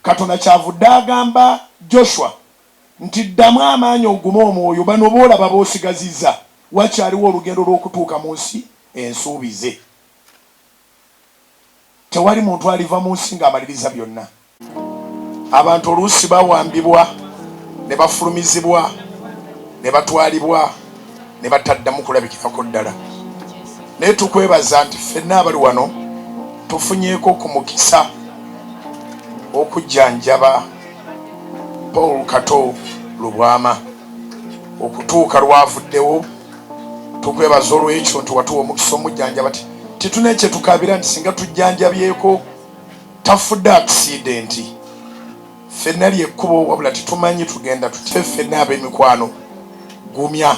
Katonda kyavudde agamba Joshua nti, Ddamu amaanyi ogume omwoyo. Bano b'olaba b'osigazizza, wakyaliwo olugendo lw'okutuuka mu nsi ensuubize. Tewali muntu aliva mu nsi ng'amalirizza byonna. Abantu oluusi bawambibwa ne bafulumizibwa ne batwalibwa. ne bataddamu kulabikirako ddala naye tukwebaza nti ffenna abali wano tufunyeeko ku mukisa okujjanjaba paul kato lubwama okutuuka lwavuddewo tukwebaza olwekyo nti watuwa omukisa omujjanjaba ti tituna ekyetukabira nti singa tujjanjabyeko tafudde akisidenti Ffenna ly'ekkubo wabula tetumanyi tugenda tutya ffenna ab'emikwano gumya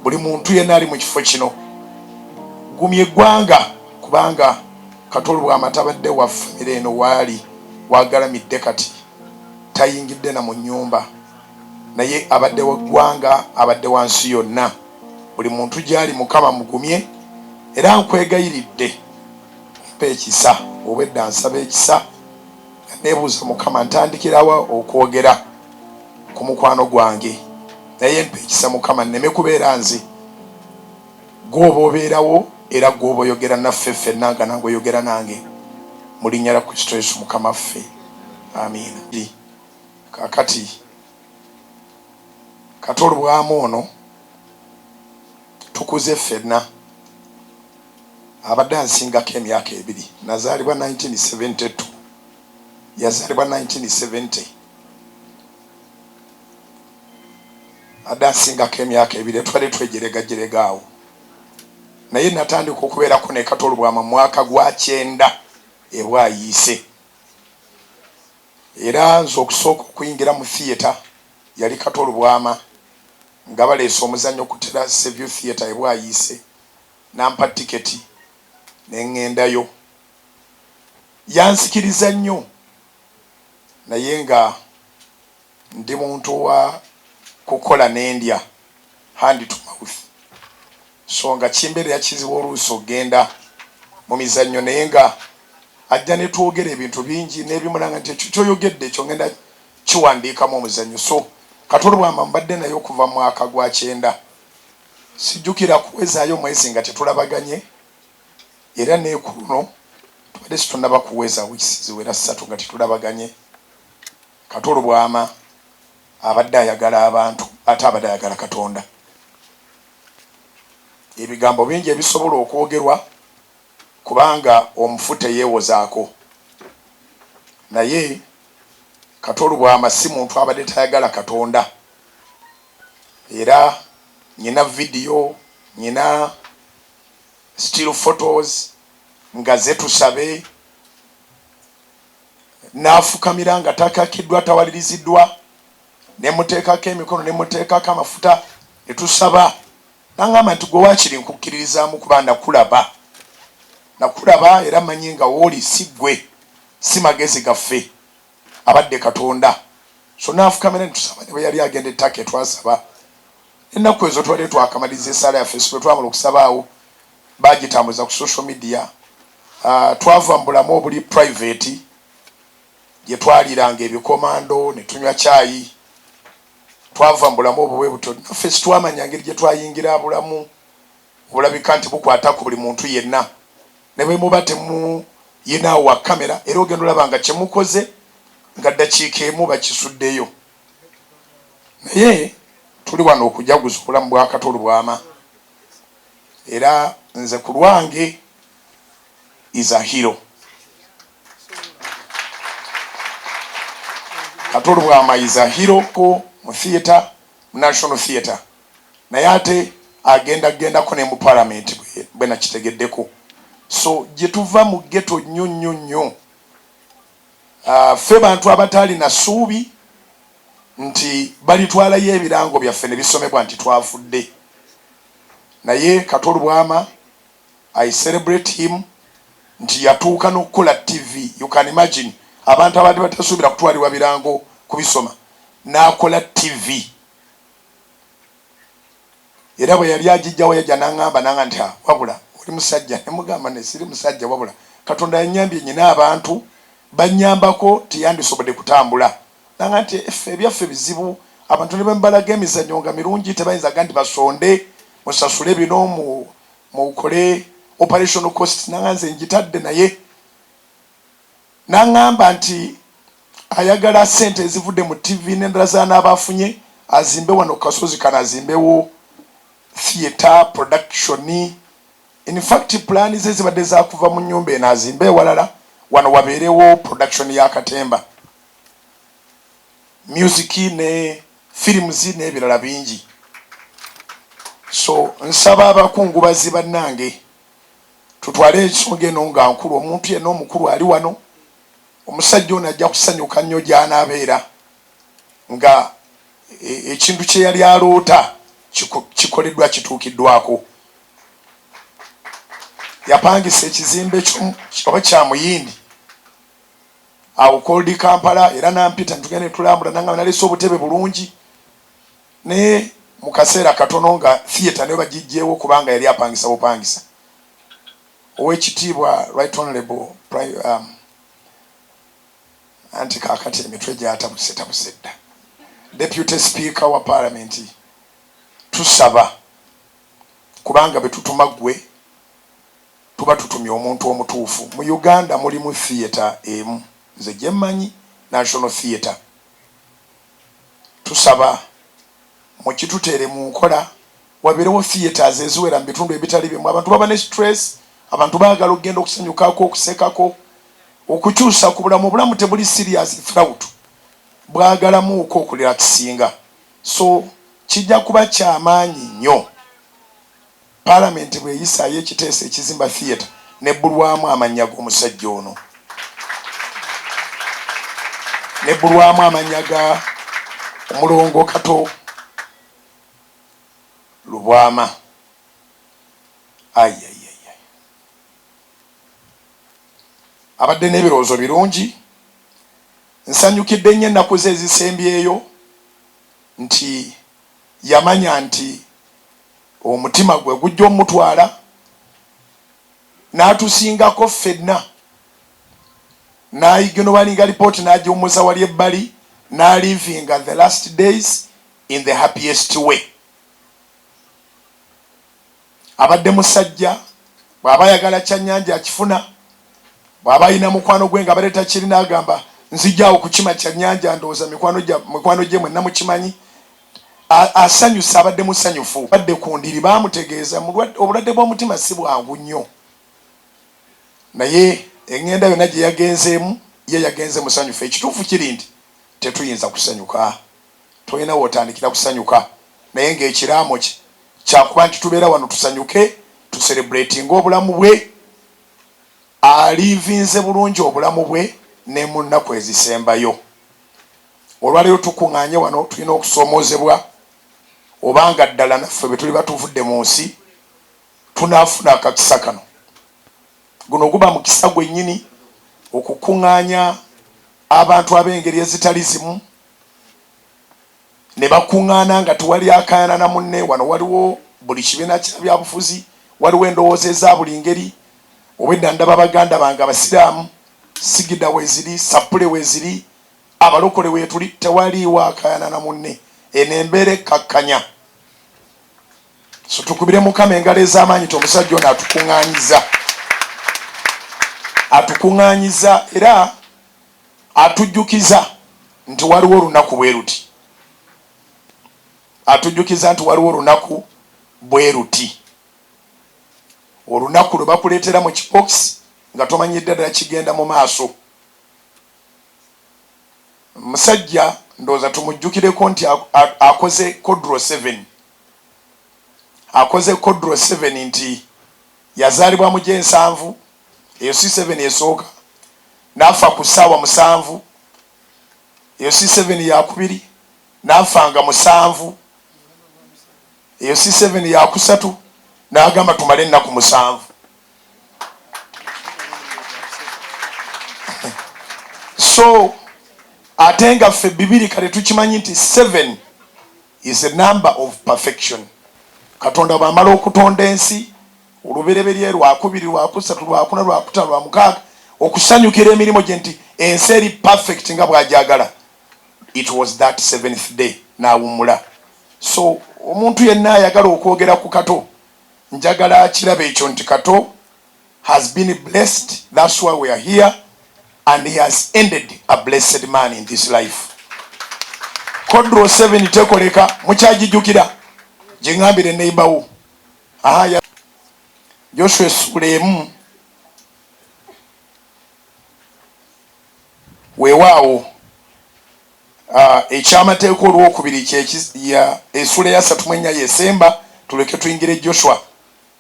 buli muntu yenna ali mu kifo kino gumya eggwanga kubanga Kato Lwama tabadde wa ffamire eno waali w'agalamidde kati tayingidde na mu nnyumba naye abadde wa ggwanga abadde wa nsi yonna buli muntu gy'ali Mukama mugumye era nkwegayiridde mpa ekisa obwedda nsaba ekisa nebuuza mukama ntandikirawa okwogera ku mukwano gwange naye mpa ekisa mukama nneme kubeera nze gwoba obeerawo era gwoba oyogera naffe ffenna nga nange oyogera nange mu linnya lya kristo yesu mukama ffe amiina kakati kati olubwamu ono Tukuze ffenna. Abadde ansingako emyaka ebiri. Nazaalibwa nineteen seventy two, yazaalibwa nineteen seventy. Abadde ansingako emyaka ebiri era tubadde twejeregajerega awo. Naye natandika okubeerako ne Kato Lubwama mu mwaka gwa kyenda e Bwayiise. Era nze okusooka okuyingira mu theatre yali Kato Lubwama. Nga baleese omuzannyo ku Terrace View Theatre e Bwayiise, n'ampa tiketi ne ng'endayo. Yansikiriza nnyo naye nga ndi muntu wa kukola ne ndya, hand to mouth, so nga kimbeerera kizibu oluusi okugenda mu mizannyo naye nga ajja ne twogera ebintu bingi n'ebimulanga nti ekyo ky'oyogedde ekyo ng'enda kiwandiikamu omuzannyo so katolubwama mbadde naye okuva mwaka gwa kyenda sijjukira kuwezaayo mwezi nga tetulabaganye era nekuluno tubadde situnaba kuweza wiisi ziwera ssatu nga tetulabaganye katolubwama abadde ayagala abantu ate abadde ayagala katonda ebigambo bingi ebisobola okwogerwa kubanga omufu teyewozaako naye Kato Lubwama si muntu abadde tayagala Katonda era nyina video nyina still photos nga ze Tusabe nafukamira nga takakidwa tawalirizidwa nemutekako emikono nemutekako amafuta netusaba N'aŋŋamba nti, Ggwe waakiri nkukkiririzaamu, kuba nakulaba. Nakulaba, era mmanyi nga w'oli. Si ggwe, si magezi gaffe. Abadde Katonda. So n'afukamira ne tusaba, ne bwe yali agenda e Turkey twasaba. N'ennaku ezo tubadde twakamaliriza essaala yaffe, si bwe twamala okusaba awo, baagitambuza ku social media. Ha, twava mu bulamu obuli private, gye twaliiranga ebikomando, ne tunywa caayi, twava mu bulamu obwo bwe butyo. Naffe sitwamanya ngeri gye twayingira bulamu obulabika nti bukwata ku buli muntu yenna. Ne bwe muba temuyinaawo wa kkamera era ogenda olaba nga kye mukoze nga ddakiika emu bakisuddeyo. Naye tuli wano okujaguza obulamu bwa Kato Lubwama era nze ku lwange is a hero. Katolo Bwama is a hero ko mu theatre mu National Theatre naye ate agenda gendako ne mu parliament bwe nakitegeddeko so gye tuva mu ghetto nnyo nnyo nnyo uh, ffe bantu abataali na suubi nti balitwalayo ebirango byaffe ne bisomebwa nti twafudde naye Katolo Bwama I celebrate him nti yatuuka nokukola TV you can imagine abantu abadde batasuubira kutwalibwa birango kubisoma nakola TV era bweyali ajijjawo yajja nangamba nanga nti ah, wabula oli musajja nemugamba nesiri musajja wabula katonda yanyambye nyina abantu banyambako tiyandisobode kutambula nanga nti effe ebyaffe bizibu abantu nebembalaga emizanyo nga mirungi tebayinza ga nti basonde musasule bino mu mukole operational costs nanga nze njitadde naye nangamba nti ayagala sente ezivudde mu TV nendala zanaba afunye azimbe wano kukasozi kano azimbewo theatre production in fact plan ze zibadde zakuva mu nyumba eno azimbe ewalala wano wabeerewo production ya katemba music ne films nebirala bingi so nsaba abakungubazi bannange tutwale ensonga eno nga nkulu omuntu yenna omukulu ali wano omusajja ono ajja kusanyuka nnyo gy'anaabeera nga e, ekintu kye yali aloota kikoleddwa kituukiddwako yapangisa ekizimbe oba kya muyindi awo called Kampala era nampita netugenda netulambula nangamba nalese obutebe bulungi naye mukaseera katono nga theatre nayo bagijjeewo kubanga yali apangisa bupangisa owekitiibwa right honorable um, anti kakati emitwe gyatabuse tabuse dda deputy speaker wa parliament tusaba kubanga betutuma gwe tuba tutumye omuntu omutuufu. Mu Uganda mulimu theatre emu nze gyemmanyi National Theatre. Tusaba mukituteere mu nkola wabeerewo theatres eziwera mu bitundu ebitali bimu. Abantu baba ne stress, abantu baagala okugenda okusanyukako, okusekako, okukyusa ku bulamu. Obulamu tebuli serious throughout, bwagalamuuko okurelaxinga. So kijja kuba kya maanyi nnyo. Palamenti bweyisaayo ekiteeso ekizimba Theatre nebbulwamu amannya g'omusajja ono nebbulwamu amannya ga Omulongo Kato Lubwama ai abadde n'ebirowoozo birungi nsanyukidde nnyo ennaku ze ezisembyeyo nti yamanya nti omutima gwe gujja omutwala n'atusingako ffenna n'aiginowalinga lipooti n'agiwummuza wali ebbali n'alivinga the last days in the happiest way. abadde musajja bwaba ayagala kyanyanja akifuna bwaba ayina mukwano gwe ngabadde takirina agamba nzija awo kukima kyanyanja ndowooza mikwano gye mwenna mukimanyi asanyusa abadde musanyufu badde ku ndiri bamutegeeza obulwadde bw'omutima si bwangu nnyo naye eŋŋenda yonna gye yagenzeemu ye yagenze musanyufu ekituufu kiri nti tetuyinza kusanyuka tolina w'otandikira kusanyuka naye ng'ekiraamo kye kya kuba nti tubeera wano tusanyuke, tuserebuleetinge obulamu bwe. Aliivinze bulungi obulamu bwe ne mu nnaku ezisembayo. Olwaleero tukung'aanye wano tulina okusoomoozebwa oba nga ddala naffe bwe tuliba tuvudde mu nsi tunaafuna akakisa kano. Guno guba mukisa gwennyini okukung'aanya abantu ab'engeri ezitali zimu ne bakuŋŋaana nga tewali akaayana na munne. Wano waliwo buli kibiina kya byabufuzi, waliwo endowooza eza buli ngeri. Obwedda ndaba baganda bange Abasiraamu, sigida weeziri, ssappule weeziri, Abalokole weetuli, tewaliiwo akaayana na munne. Eno embeera ekkakkanya. So tukubire Mukama engalo ez'amaanyi nti omusajja ono atukuŋŋaanyizza, atukuŋŋaanyizza era. Atujjukiza nti waliwo olunaku bwe luti. Atujjukiza nti waliwo olunaku bwe luti. Olunaku lwe bakuleetera mu kipookisi nga tomanyidde ddala kigenda mu maaso. Omusajja ndowooza tumujjukireko nti akoze Kodro Seven. Akoze Kodro Seven nti Yazaalibwa mu gy'ensanvu, eyo si seven esooka, n'afa ku ssaawa musanvu, eyo si seven yakubiri, n'afa nga musanvu, eyo si seven yakusatu, n'agamba tumale ennaku musanvu. So ate nga ffe bibiri kale tukimanyi nti seven is a number of perfection. Katonda bwamala okutonda ensi olubereberye lwakubiri lwakusatu lwakuna lwakutano lwa mukaaga okusanyukira emirimu gye nti ensi eri perfect nga bwajagala it was that seventh day nawummula so omuntu yenna ayagala okwogera ku kato njagala akiraba ekyo nti kato has been blessed that's why we are here and he has ended a blessed man in this life kodro 7 tekoleka mukyajijukira jingambire neighborwo aha ya joshua esula emu weewaawo ah, ekyamateeka olwokubiri esula eyasatu mwenya yesemba tuleke tuyingire joshua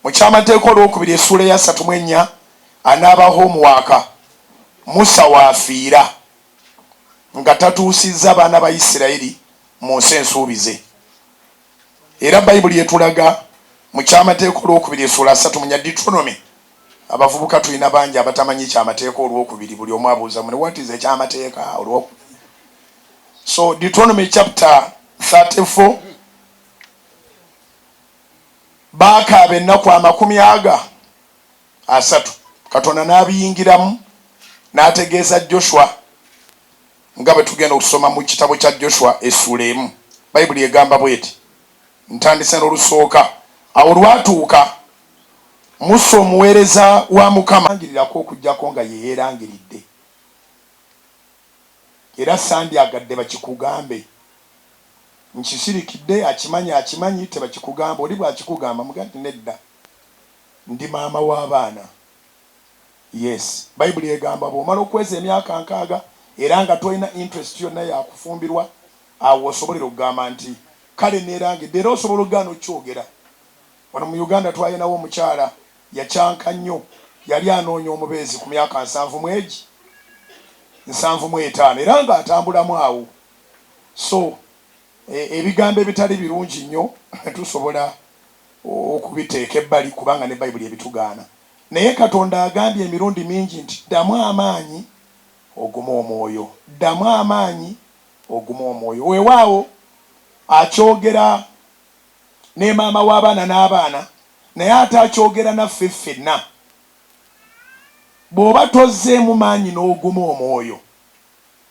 Mu ky'amateeka olw'okubiri essuula eya satu mu ennya, anaaba homuwaaka, Musa w'afiira nga tatuusizza baana ba Isiraeri mu nsi ensuubize. Era Baibuli etulaga mu ky'amateeka olw'okubiri essuula satu mu nya, Deuteronomy, abavubuka tulina bangi abatamanyi ky'amateeka olw'okubiri, buli omu abuuza mune, what is eky'amateeka olw'okubiri? So Deuteronomy chapter 34. baakaaba ennaku amakumi aga asatu, Katonda n'abiyingiramu n'ategeeza Joshua, nga bwe tugenda okusoma mu kitabo kya Joshua essuula emu. Bayibuli egamba bw'eti, ntandise n'olusooka, Awo olwatuuka Musa omuweereza wa Mukama. Langirirako okuggyako nga ye yeerangiridde. era sandyagadde bakikugambe nkisirikidde akimanyi akimanyi tebakikugamba oli bwakikugamba mugambe nti nedda ndi maama wa baana yes bayibuli egamba bwomala okweza emyaka nkaaga era nga tolina interest yonna yakufumbirwa awo wosobolera okugamba nti kale nerangidde era osobola ogaana okyogera wano mu Uganda twalinawo omukyala Yakyanka nnyo. Yali anoonya omubeezi ku myaka nsanvu mu egi nsanvu mu etaano era nga atambulamu awo. So, e, ebigambo ebitali birungi nnyo tusobola okubiteeka ebbali, kubanga ne Bayibuli ebitugaana. Naye Katonda agambye emirundi mingi nti, Ddamu amaanyi, ogume omwoyo. Ddamu amaanyi, ogume omwoyo. Weewaawo, Akyogera ne maama w'abaana n'abaana naye ate akyogera naffe ffenna. Bw'oba tozzeemu maanyi n'oguma omwoyo,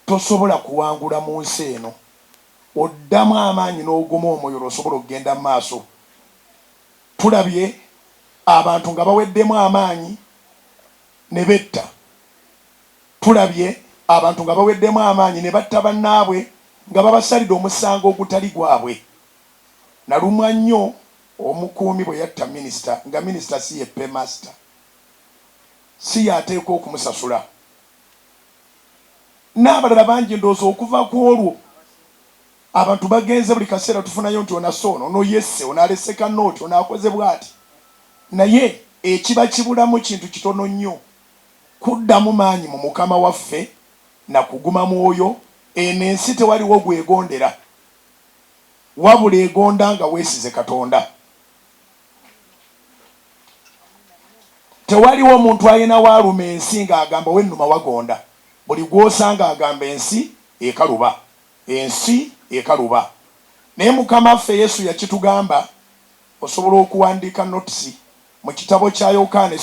tosobola kuwangula mu nsi eno. Oddamu amaanyi n'oguma omwoyo lw'osobola okugenda mu maaso. Tulabye abantu nga baweddemu amaanyi ne betta. Tulabye abantu nga baweddemu amaanyi ne batta bannaabwe nga babasalide omusango ogutali gwabwe. Nalumwa nnyo omukuumi bwe yatta minisita nga minisita si ye paymaster, si y'ateekwa okumusasula n'abalala bangi. Ndowooza okuva ku olwo abantu bagenze buli kaseera tufunayo nti ono asse ono, ono yesse, ono alese kanoti, ono akoze bwati naye ekiba kibulamu kintu kitono nnyo, kuddamu maanyi mu Mukama waffe na kuguma mwoyo. Eno ensi tewaliwo gw'egondera. wabula egonda nga wesize katonda tewaliwo omuntu ayina waluma ensi nga agamba wenuma wagonda buli gwosanga agamba ensi ekaluba ensi ekaluba naye mukama ffe yesu yakitugamba osobola okuwandika notisi mukitabo kya yokana